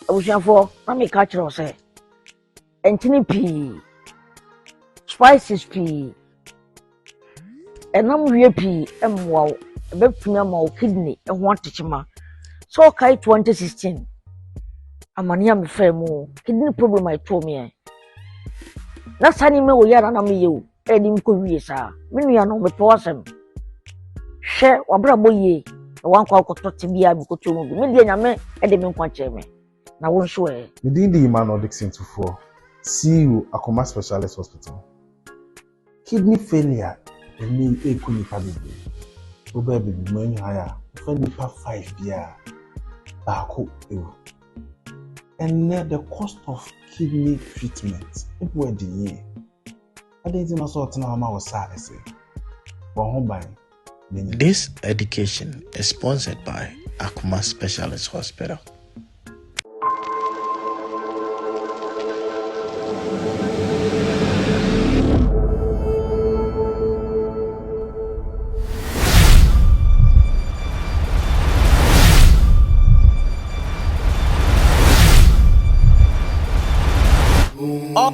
abusuafoɔ na meka akyerɛ wo sɛ nkyene pii spices pii ɛnam wie pii mmoa wo ɛbɛtumi ama wo kidney ho atekyema sɛ ɔkae 2016 amane a mefaa mu kidney problem a ɛtoo meɛ na saa nneɛma wɔ yɛ a na meyɛ o ɛde nkɔ wie saa me nua no mepɛ w'asɛm hwɛ w'abrabɔ yie na wankɔ akɔtɔ te biara mekɔtɔ mu bi me deɛ nyame ɛde me nkwa kyɛɛ me na wo nso ɛ me din de Emmanuel Dixon Tufoɔ CEO Akoma Specialist Hospital kidney failure ɛnɛ yi ɛku nipa bebree wobɛɛ bebi mu ɛnyɛ haya wofa nipa five biara baako ɛwu ɛnɛ the cost of kidney treatment ɛbu ɛde yie Adɛn nti na sɛ ɔtena hɔ ma wo saa ɛsɛ? Bɔ ho ban. This education is sponsored by Akuma Specialist Hospital.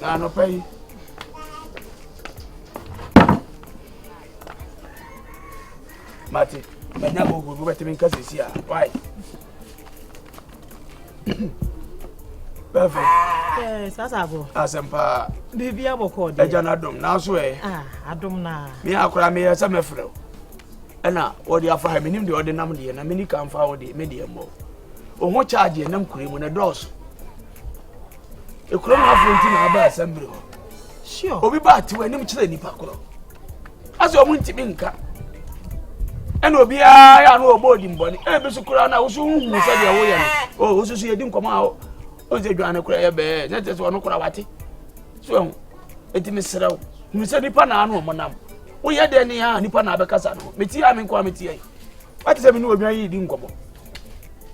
Na anɔpa yi. Mate, manya mo ogun, wobɛtumi nka sisi a. Why? Bɛfɛ. Ɛɛ, sasa agorɔ. Asɛm paa. Biribi abɔkɔ deɛ. Agya no adom, nanso ɛ. Ah, adom naa. Me akora meyɛ sɛ mɛfrɛ wo. Ɛna wɔde afa ha, menim deɛ ɔde nam deɛ, na meni ka mfa wo deɛ, me deɛ mmɔ. Wo ho charge nam kure mu na ɛdɔɔso. ekuro mu afɔ nti na aba asɛmbiri hɔ sure obi ba ati wɔn anim kyerɛ nipa korɔ asɛ wɔn ntumi nka ɛna obiara yɛ ano ɔbɔ odi mbɔni ebi so koraa na woso huhu sɛ deɛ woyɛ no o woso so yɛ di nkɔmɔ a o o nsɛ dwan ne koraa yɛ bɛɛ ne tɛ so ɔno koraa wate so ɛho eti mi srɛ o hu sɛ nipa na ano ɔmo nam woyɛ dɛ ne yɛ a nipa na abɛkasa no meti a mi nkɔ a meti yɛ wate sɛ mi ni odwan yi di nkɔmɔ.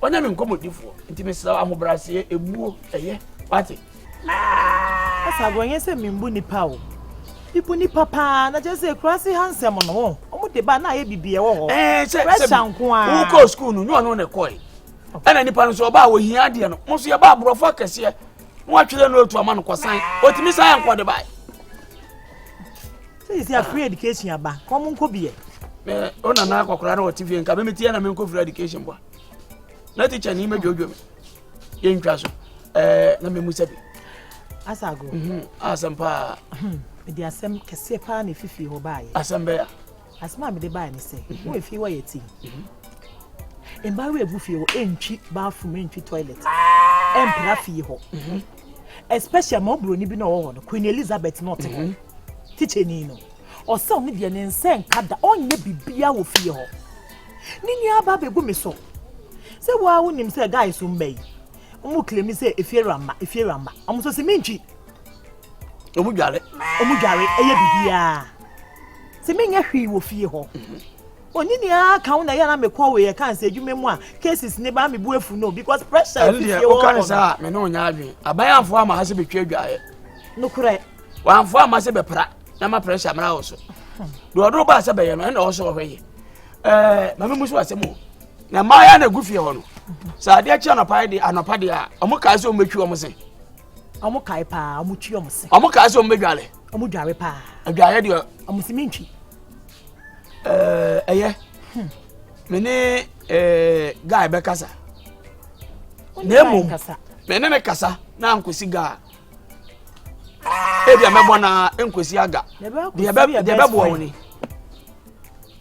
Ɔnyɛ me nkɔmmɔdifoɔ, nti mesrɛ ahobrɛaseɛ, ebuo, ɛyɛ, wate. Asa agorɔ nyɛ sɛ membu nnipa o. Mebu nnipa paa na kyerɛ sɛ kura ase ha nsɛm no wɔn wɔn de ba na ayɛ bibi ɛwɔ hɔ. Ɛɛ sɛ pressure nko ara. Wo kɔ sukuu no nyɛ ɔno na ɛkɔɛ. Ɛna nnipa no nso ɔbaa wɔhia adeɛ no mo nso yɛba aborɔfo akɛseɛ na watwerɛ no otu ama no kɔsan otumi san yɛ nkɔde bae. Sɛ sɛ free education aba, kɔm nkɔ bi ɛ. Mɛ o nana akɔkora na ɔte fie nka mɛ metiɛ na menkɔ free education bɔ. Na teacher ni mɛdwodwo me. Yɛntwa so. Ɛɛ na mɛmu sɛ bi. Asago. Mhm. Asɛm paa. Hmm. Mede asɛm kɛseɛ paa na ɛfifie hɔ baayɛ. Asɛm bɛya. Asɛm a mede baayɛ ne sɛ, mhm. wo ɛfie wɔ yɛ ti. Mhm. Mmaa wɔ ɛgu fie hɔ, ɛntwi bathroom, ɛntwi toilet, ɛmpra fie hɔ. especially ma oburoni bi na ɔwɔ hɔ no queen elizabeth na ɔte hɔ mm-hmm. tikyɛni no ɔsɛ ɔno deɛ ne nsa nka da ɔnyɛ biribiara wɔ fie hɔ ne nua aba abɛgu me so sɛ waa wonim sɛ guy so mma yi ɔmo kilemi sɛ efie rama efie rama ɔmo sɛ sɛ mentwi ɔmo dware ɔmo dware ɛyɛ biribiara sɛ menyɛ hwee wɔ fie hɔ mm-hmm. Onyini aa ka wo na ɛyɛ a na me kɔ we yɛ kan sɛ adwuma mu a cases ne ba me bu afu no because pressure ɛne deɛ woka ne saa me ne wo nya adwen aban amfo ama ha sɛ bɛtwa adwaeɛ nokorɛ wamfo ama sɛ bɛpra na ma pressure mmra wo so deɛ ɔdoro baa sɛ bɛyɛ no ɛna ɔsɛ ɔhwɛ yɛ ɛɛ mame mu so asɛm o na mmaa yɛ na gu fie hɔ no sɛ adeɛ kye anɔpa de anɔpa de a ɔmo kaa sɛ ɔmo bɛtwi ɔmo se ɔmo kae paa ɔmo twi ɔmo se ɔmo kaa sɛ ɔmo bɛdwale ɔmo dware paa adwaeɛ deɛ ɔmo se mentwi ɛɛ ɛyɛ me ne ɛɛ guy bɛ kasa na emu me ne ne kasa na nkosi guy ebi a mɛbɔ na nkosi aga deɛ bɛ deɛ bɛ boɔ wɔn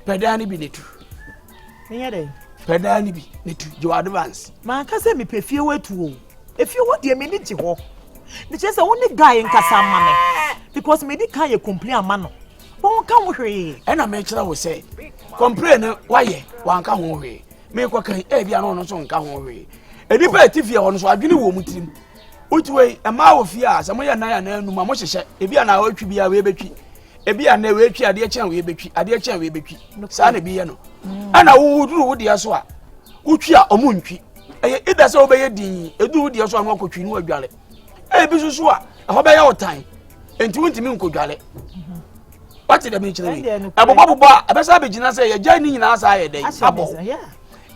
pɛdaa ne bi ne tu pɛdaa ne bi ne tu gye wɔ advance. maa nkasa mi pɛ fie wɔ etu o efie wɔ deɛ mi ni gye hɔ ne kyerɛ sɛ wo ne guy nkasa ama mi because mi di kan yɛ complain ama no. wɔnka ho hwee. ɛna mekyerɛ wo sɛ kɔmpire no wayɛ wanka ho hwee mekɔkan ebi ano no nso nka ho hwee nnipa a ɛte fie hɔ no so adwene wɔ mu tirim wotu wei ɛmaa wɔ fie a sɛ moyɛ nan anaa anum a mohyehyɛ ebi a na wɔatwi bi a wei bɛtwi ebi a na wɔatwi adeɛ kyɛn wei bɛtwi adeɛ kyɛn wei bɛtwi saa na ebi yɛ no mm. ɛna wowoduru wo deɛ so a wotwi a ɔmo ntwi ɛyɛ ida sɛ wobɛyɛ din eduru wo deɛ so a no akɔtwi no adwale ebi soso a ɛhɔ bɛyɛ ɔtan nti wontumi nkɔdware wate dɛm nkyerɛ wei ɛbobɔbobɔ a ɛbɛsɛ abɛgyina sɛ yɛgya ne nyinaa saa yɛ dɛn abɔ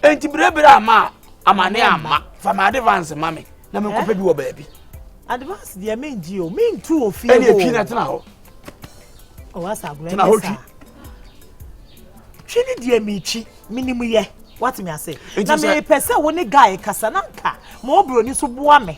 nti berɛberɛ ama a amane amma fa ma advance ma me na menkɔpɛ bi wɔ baabi advance deɛ mengye o mentu wɔ fie ɛne ɛtwi na tena hɔ tena hɔ twi twi ne deɛ metwi menim yɛ wate me ase na mepɛ sɛ wo ne guy kasa na nka ma ɔbroni so boa me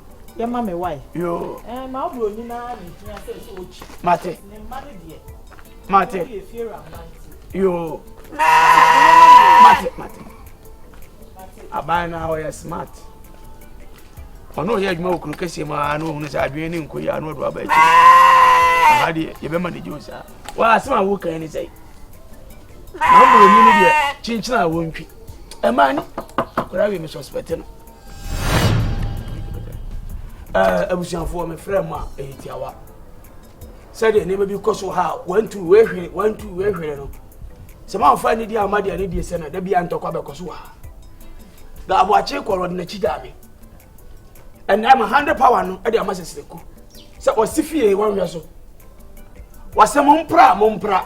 yɛ ma me wae. Yoo. Ɛɛ ma wo broni no ara na ehia sɛ sɛ okyi. Mate. Ne mma no deɛ. Mate. Wɔn yɛ fie wura mma nti. Yoo. Mate mate. Aban no a ɔyɛ smart. Ɔno ɔyɛ adwuma wɔ kuro kɛseɛ mu a na ohunu sɛ adwene ne nkɔ yi a na ɔde waba akyi. Aha deɛ yɛbɛma ne gye o saa. Waa asɛm a wokan ne sɛ. Na broni no deɛ kyenkyena a wɔntwi. Ɛmaa ne akwadaa wei me suspect no. abusuafoɔ mefrɛ mu a ɛyɛ tiawa sɛdeɛ nneɛma bi kɔ so ha a wantu wehwere wantu wehwere no sɛ mamfa ne deɛ ama deɛ ne deɛ sɛ no da bia ntɔkwa bɛkɔ so ha na aboakye kɔrɔ ɔde n'akyi gyaa me ɛnna ama hundred power no ɛde ama sɛsirɛku sɛ ɔsi fie wɔnhwɛ so wɔsɛ mo mpra mo mpra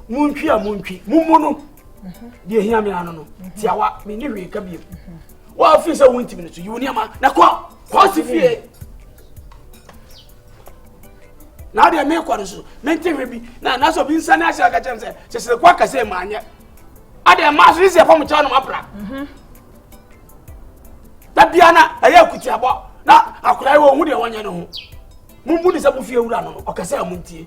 mo ntwi a mo ntwi mo mu no deɛ hia me ano no tiawa me ne hwee ka biem wɔafi sɛ wontimi no so yi wo nneɛma na kɔ kɔ se fie na deɛ mekɔ no so mente hwɛ bi na nasɛ obi nsa ne ahyɛ aka kyɛm sɛ sɛsɛ kɔ akasɛ maanyɛ adeɛ maa so ne sɛ ɛfam kyɛw no mapra da bia na ɛyɛ akutiabɔ na akora yi wɔ hu deɛ wɔnyɛ no ho mumbu ne sɛ mofie wura no ɔkɛsɛ a montie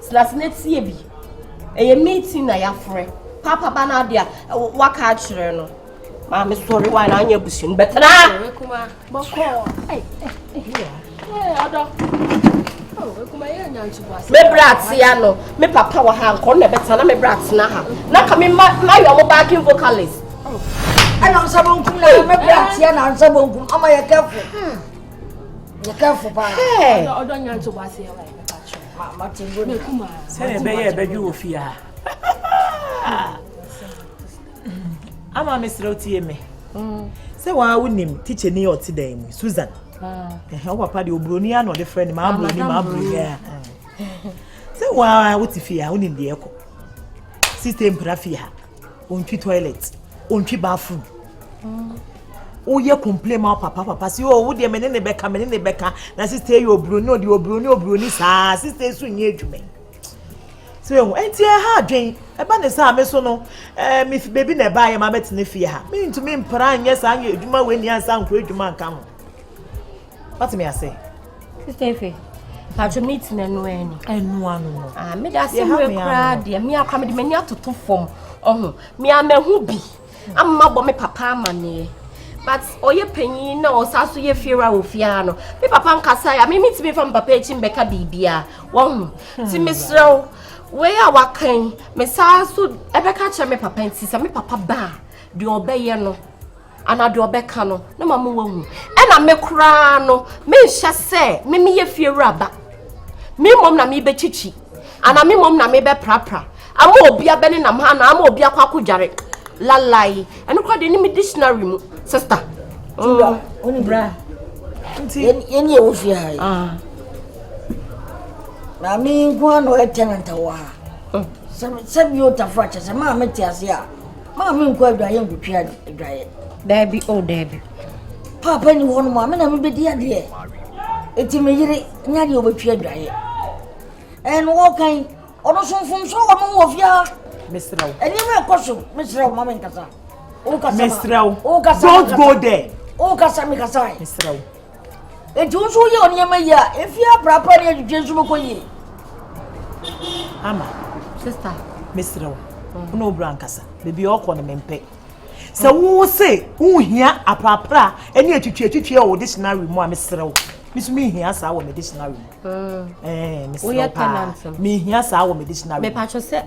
Tena ase na tie bi. Ɛyɛ meeting na yɛafrɛ. Papa ba no ade a waka akyerɛ no. Maame sɔre wa na anyɛ abusua no bɛtena. Sɔre kuma bɔkɔɔ. Ɔdɔ. Me bra atea no, me papa wɔ ha nkɔ na ɛbɛtena na me bra atena ha. Na ka me ma ma yɛ ɔmo backing vocalist. Ɛna ɔmo sɛ mo nkum na me bra atea na ɔmo sɛ mo nkum. Ɔmo yɛ kɛfo. Yɛ kɛfo paa. Ɔdɔ nya ntobo aseɛ wa. sɛdeɛ ɛbɛyɛ ɛbɛdwo wɔ fie ha ama mesrɛ wotie me mm. sɛ waa wonim tikyɛni a ɔte dan mu susan wo papa deɛ oburoni a na ɔde frɛ ne maa buroni maa buroni a sɛ waa wote fie ha wonim deɛ ɛkɔ sista mpira fie ha Ontwi toilet, ontwi bathroom. Woyɛ complain ma papa papa si o wo deɛ me ne ne bɛka me ne ne bɛka na sista yɛ oburoni ɔde oburoni oburoni saa sista esu nyɛ adwuma yi. So ehu eti ɛha adwen ɛba ne saa me so no ɛɛ eh, me fi beebi na ɛba yɛ ma bɛtena fie ha. Me ntumi mpra nyɛ saa nyɛ adwuma wɔ ni ansa nkɔ adwuma nka ho. Wate me ase? Sister Efe, patro mi ti na ɛno ɛni. Ɛno ano no. Ah, mi da se wura kura deɛ mi akora mi de m'ani atoto fam ɔho mi amahu bi ama bɔ mi papa amaneɛ but ɔyɛ panyin na ɔsa so yɛ fiewura wɔ fiaa no mi papa nkasa ya mi mi ti mi fa mi papa akyi mbɛka biribiara wɔho ti mi serɛw wei a wakan mi saa so ɛbɛka kyerɛ mi papa nti sɛ mi papa baa deɛ ɔbɛyɛ no. anaa deɛ ɔbɛka no na ma mo wahu ɛna me koraa no menhyɛ sɛ me meyɛ fie wura ba me mmom na mebɛkyikyi anaa me mmom na mebɛprapra ama obi abɛne nam ha anaa ama obi akɔ akɔdware lalai ɛno koraa deɛ ne me dictionary mu sister mm. bra nti yɛne ɛwɔ fie ha yi ah. maame nko a na ɔyɛ tenant wɔ ha hmm. sɛ bi ɔtafo akyɛ sɛ maa mete ase a maa me nkɔ adwaeɛ nkotwa adwaeɛ daabi o oh, daabi paapa ni hɔ no mu a me na mebɛdi adeɛ ɛti me yere nya deɛ ɔbɛtwi adwaeɛ ɛno wɔkan ɔno so mfomso wɔ no wɔ fiaa mesrɛ wo ɛnneɛma ɛkɔ so mesrɛ wo ma menkasa wokasa wokasa don't go there wokasa mekasa mesrɛ wo Enti wo nso woyɛ wo nneɛma yie a, efi aprapra ne adwudwe nso bɛkɔ yie. Ama, sista, mesrɛ wo, mm. wo na wobura nkasa. Baabi a ɔkɔ no mempɛ. Sɛ mm. wo se wohia aprapra ne atwitwiatwitwi a wɔ dictionary mu a mesrɛ wo. Misu mi hia saa wɔ me dictionary mu. Mm. Ɛɛ, mesrɛ wo paa. Mehia saa wɔ me dictionary mu. Mepatwo sɛ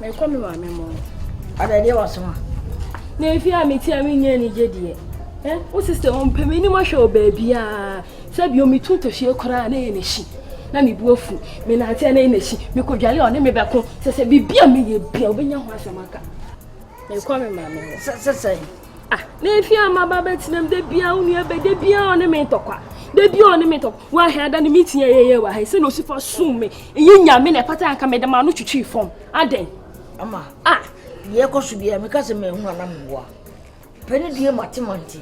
Mekɔ me maame mo. Ada deɛ waso a. Na efi a meti a menyɛ anigye deɛ. Eh, wo sister wɔn pɛ m'anim ahwɛ wɔ baabiara. Sɛ bio metu ntɔhwie koraa na ɛyɛ n'akyi. Na me bu afu. Me nante a na ɛyɛ n'akyi. Mekɔdwale a ɔne me bɛko. Sɛ sɛ biribi a meyɛ bia wobɛnya ho asɛm aka. Mekɔ me maame hɔ. Sɛ sɛ sɛ. Ah, n'efi ama ba bɛtena mu da biara wo nua bɛ da biara ɔne me ntɔkwa da biara ɔne me ntɔkwa wahwɛ ada ne meeting a yɛyɛ wɔ ha sɛ na osi fa sum me ɛyɛ nyame na ɛfata anka mede ma no twitwi fam adɛn ama ah deɛ ɛkɔ so biara meka sɛ mahu anam mmoa pɛ ne deɛ mate ma nti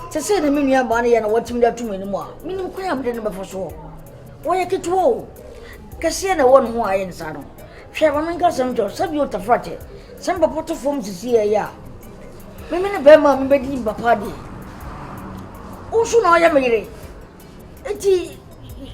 sɛ sɛ na me nua baa no yɛ na watumi de ato m'anim a menim kwan a mede no bɛfa soɔ wɔyɛ ketewa o kɛseɛ na ɛwɔ ne ho ayɛ ne saa no Hwɛ, ma menka asɛm nkyerɛ wo, sɛdeɛ otafoɔ te, sɛ mpapo to fam sisi ɛyɛ a, me mene bɛrima a mebɛdi mpapo adeɛ. Wo nso na ɔyɛ me yere. Enti,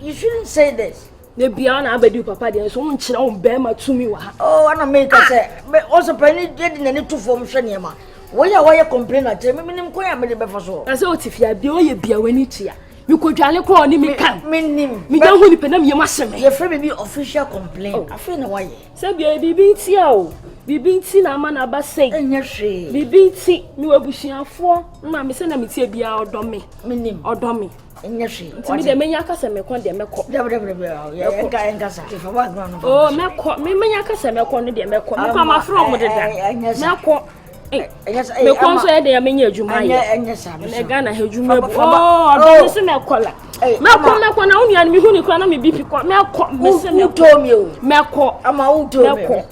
you shouldn't say this. na bia ɔna abɛdi wo papa deɛ nso wonkyerɛ wo bɛrima tumi wɔ ha oh, ana meka ah! sɛ ɔsɛ pani yɛde n'ani to fam hwɛ nneɛma wɔyɛ a wɔyɛ complain akyerɛ me menim kwan a mede bɛfa so na sɛ ɔte fie a deɛ ɔyɛ bia w'ani tua mekɔdwane kora ɔne me kan menya hu nipa na meyam ahye me yɛfrɛ biribi official complain oh. afei na woayɛ sɛ bia biribi ntia o biribi nti na ama no aba sɛi ɛnyɛ hwee biribi nti mewɔ abusuafoɔ ma me sɛ na metie biara ɔdɔ me menim ɔdɔ me ɛnyɛ hwee nti me deɛ mɛnya ka sɛ mɛkɔ deɛ mɛkɔ mɛkɔ mɛnya ka sɛ mɛkɔ no deɛ mɛkɔ mekɔ amafrɛ ɔmo deda mɛkɔ mekɔ nso yɛ deɛ menyɛ adwuma yɛ ɛnɛ ghana ha adwuma bu ɔdɔ ne so mɛkɔ la mɛkɔ mɛkɔ na wo nua no mehu ne kora na me bipi kɔ mɛkɔ mese mɛkɔ mɛkɔ mɛkɔ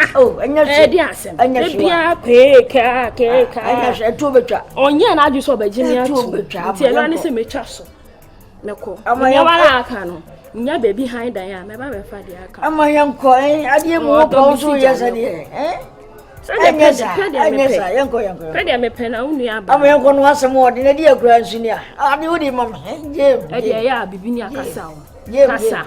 ɛdi asɛm ebiara keekaa keekaa ɔnyɛ n'adwe sɛ ɔbɛgye me ato nti ɛno ne sɛ metwa so mɛkɔ ama yɛn wala aka no nya baabi han dan a mɛba bɛfa deɛ aka ama yɛn kɔ ɛ eh, adeɛ mu wɔ pɔn so yɛ sɛ deɛ ɛ eh? sɛdeɛ pɛ deɛ pɛ deɛ mepɛ yɛn kɔ yɛn kɔ pɛ deɛ mepɛ na wo nua aba ama yɛn kɔ no asɛm wɔ de na di akura nsu ni a adeɛ wo de ma me ɛ eh, gyeem ɛdeɛ yɛ a bibi ni akasa o kasa.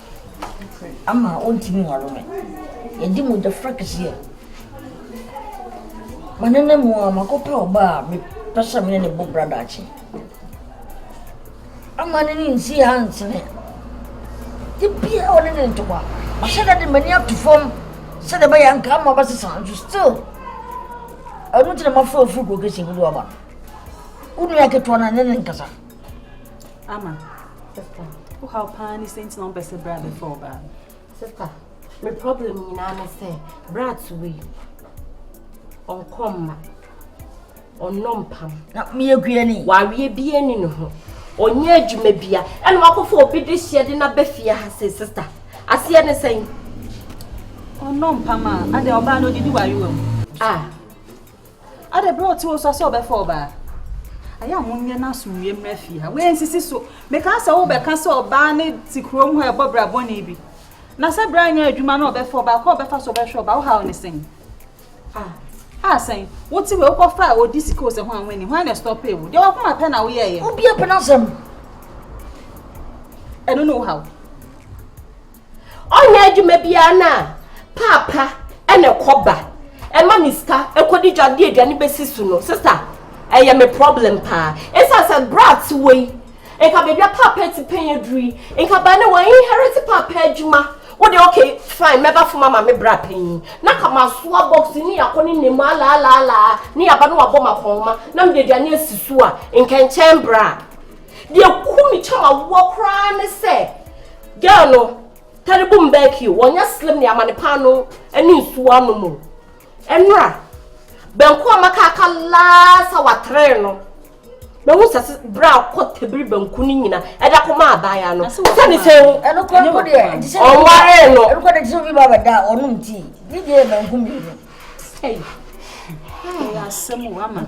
Ama ontumi nware me. Yɛadi mogyafra kɛseɛ. Manana mu a makɔpɛ ɔbaa a mepɛ sɛ me ne no bɔ bra daakye. Ama ne ne nsi ha nsene. De biara ɔne ne ntoma. Mahyɛ da de m'ani ato fam sɛdeɛ ɛbɛyɛ nka ama bɛsesa nso still ɛno nti na mafrɛ ofiri kuro kɛseɛ mu de waba no. Wo nua ketewa no ne ne nkasa. Ama. Sista, wo haw paa ne sɛ nti na wɔn pɛ sɛ bra bɛfa ɔbaa. Sista, me problem nyinaa ne sɛ bra to wei. Ɔnkɔ mma. Ɔnnɔ mpam. Na meyɛ guani. Wareɛ bi ani ne ho. Ɔnyɛ adwuma bia. Ɛna wakɔfo obi de hyɛ de na bɛfie ha sɛ sista. Aseɛ ne sɛn? Ɔnnɔ mpam a, adɛ ɔbaa no ɔdidi warewa mu. Ah. Ada bere a ɔte wo so sɛ ɔbɛfa ɔbaa. Ayɛ a monyɛ no asomdwoeɛ mmra fie ha. Wei nsisi so. Mekaa sɛ wobɛka sɛ ɔbaa ne te kurom hɔ ɛbɔ bra bɔne bi. Na sɛ bra nyɛ adwuma na ɔbɛfa ɔbaa kɔ ɔbɛfa so ɔbɛhwɛ ɔbaa wohaw ne sɛn. Ah, ah sɛn. Wote wei wokɔfa a ɔdi sika o sɛ ho a ho ani. Hwan na ɛstɔpee wo? Deɛ wakoma pɛ na woyɛɛyɛ. Obi apɛ n'asɛm. Ɛno ne wohaw. Ɔnyɛ adwuma biara no a, paapa na ɛkɔ ba. Ɛma me sika kɔdi dwa de aduane bɛsi so no, sista, ɛyɛ me problem paa. Ɛsiane sɛ berɛ a te wɔ yi, nka baabi a paapa ati pɛn aduru yi, nka baa na wɔainherit paapa adwuma. Wo deɛ okay, fine, mɛba fam ama me bra panyin. Na ka masoa box ne yɛakɔ ne nna mu alaalaala, ne yɛaba na wabɔ me akɔnhoma, na mede aduane asi so a, nka ɛnkyɛn berɛ a. deɛ ku me kyɛm awoɔ koraa ne sɛ girl no tari bom bɛɛ kio wɔnyɛ slim ne amane paano ne nsuo ano mu ɛnora bɛnko a maka aka last hour three no bɛhu sɛ se berɛ a kɔ tabiri bɛnko no nyina ɛda kɔ ma abaaya no sɛ ne sɛ hu ɔnwaree no ɛnokɔ de gyesɛ obi ba bɛda a ɔnom tii ne deɛ bɛnko mmienu ɛyɛ asɛm o ama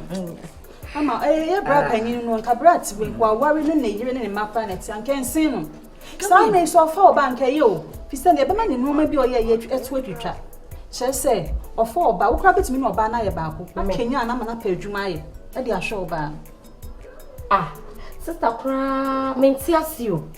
Ama ɔyɛ bra panyin no, nka bra ti wei, waware ne ne yere ne ne mma koraa na ɛte anka nsen no. Saa mmere so ɔfa ɔba anka ɛyɛ o. Fi sɛ deɛ ɛbɛma ne nneɛma bi a ɔyɛ yɛ ɛto atwitwa. Kyerɛ sɛ ɔfa ɔba, wo koraa bɛtumi ne ɔbaa no ayɛ baako. Akanyan no ama no apɛ adwuma ayɛ ɛde ahwɛ ɔbaa no. Ah, sista koraa mente ase o.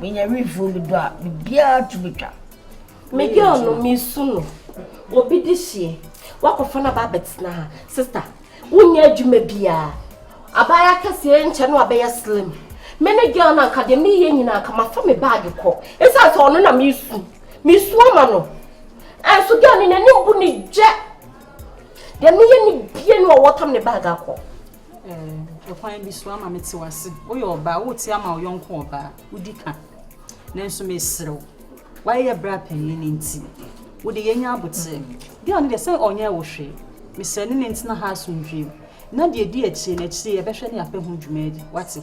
Menya refill me do a biribiara to betwa. Me girl no me su no. Obi de hyeɛ. Wakɔfa no aba abɛtena ha. Sister, wonyɛ adwuma biara. Abaayewa kɛseɛ nkyɛ no abɛyɛ slim. Me ne girl no anka deɛ meyɛ nyinaa anka mafa me baage kɔ. Ɛsiane sɛ ɔno na mesu. Mesu ama no. Ɛnso girl no n'anim bu ne gyɛ. Deɛ meyɛ ne bie no ɔwɔ tam ne baage akɔ. Ɛkwan bi so ama mete wo ase. Woyɛ ɔbaa a, woreteɛ ama wo yɔnko ɔbaa, wodi ka. Nanso mesrɛ wo, woayɛ bra panyin nti, wo de yɛanya aboterɛ. Girl no deɛ sɛ ɔnyɛɛ wo hwee. Mesrɛ ne ne ntena ha asomdwoeɛ mu. Na deɛ ɛdi akyire no, akyire yi yɛbɛhwɛ ne yɛapɛ ho dwuma adi. Woate?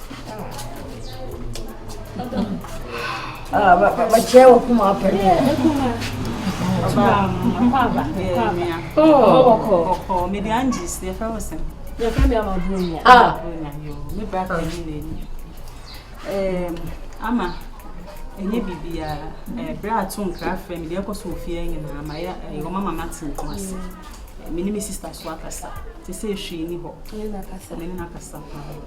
bɛkyerɛ wɔ kuma apɛ mede angis yɛfrɛ wo sɛ yɛfrɛ me ama bronya me bra pani na ani ama ɛnyɛ biribiara berɛ a to nkra frɛ me deɛ ɛkɔ so ofie nyinaa ma yɛ wɔma ma mate nko ase me ne me sister so akasa te sɛ ɛhwii ni hɔ ne ne nakasa paa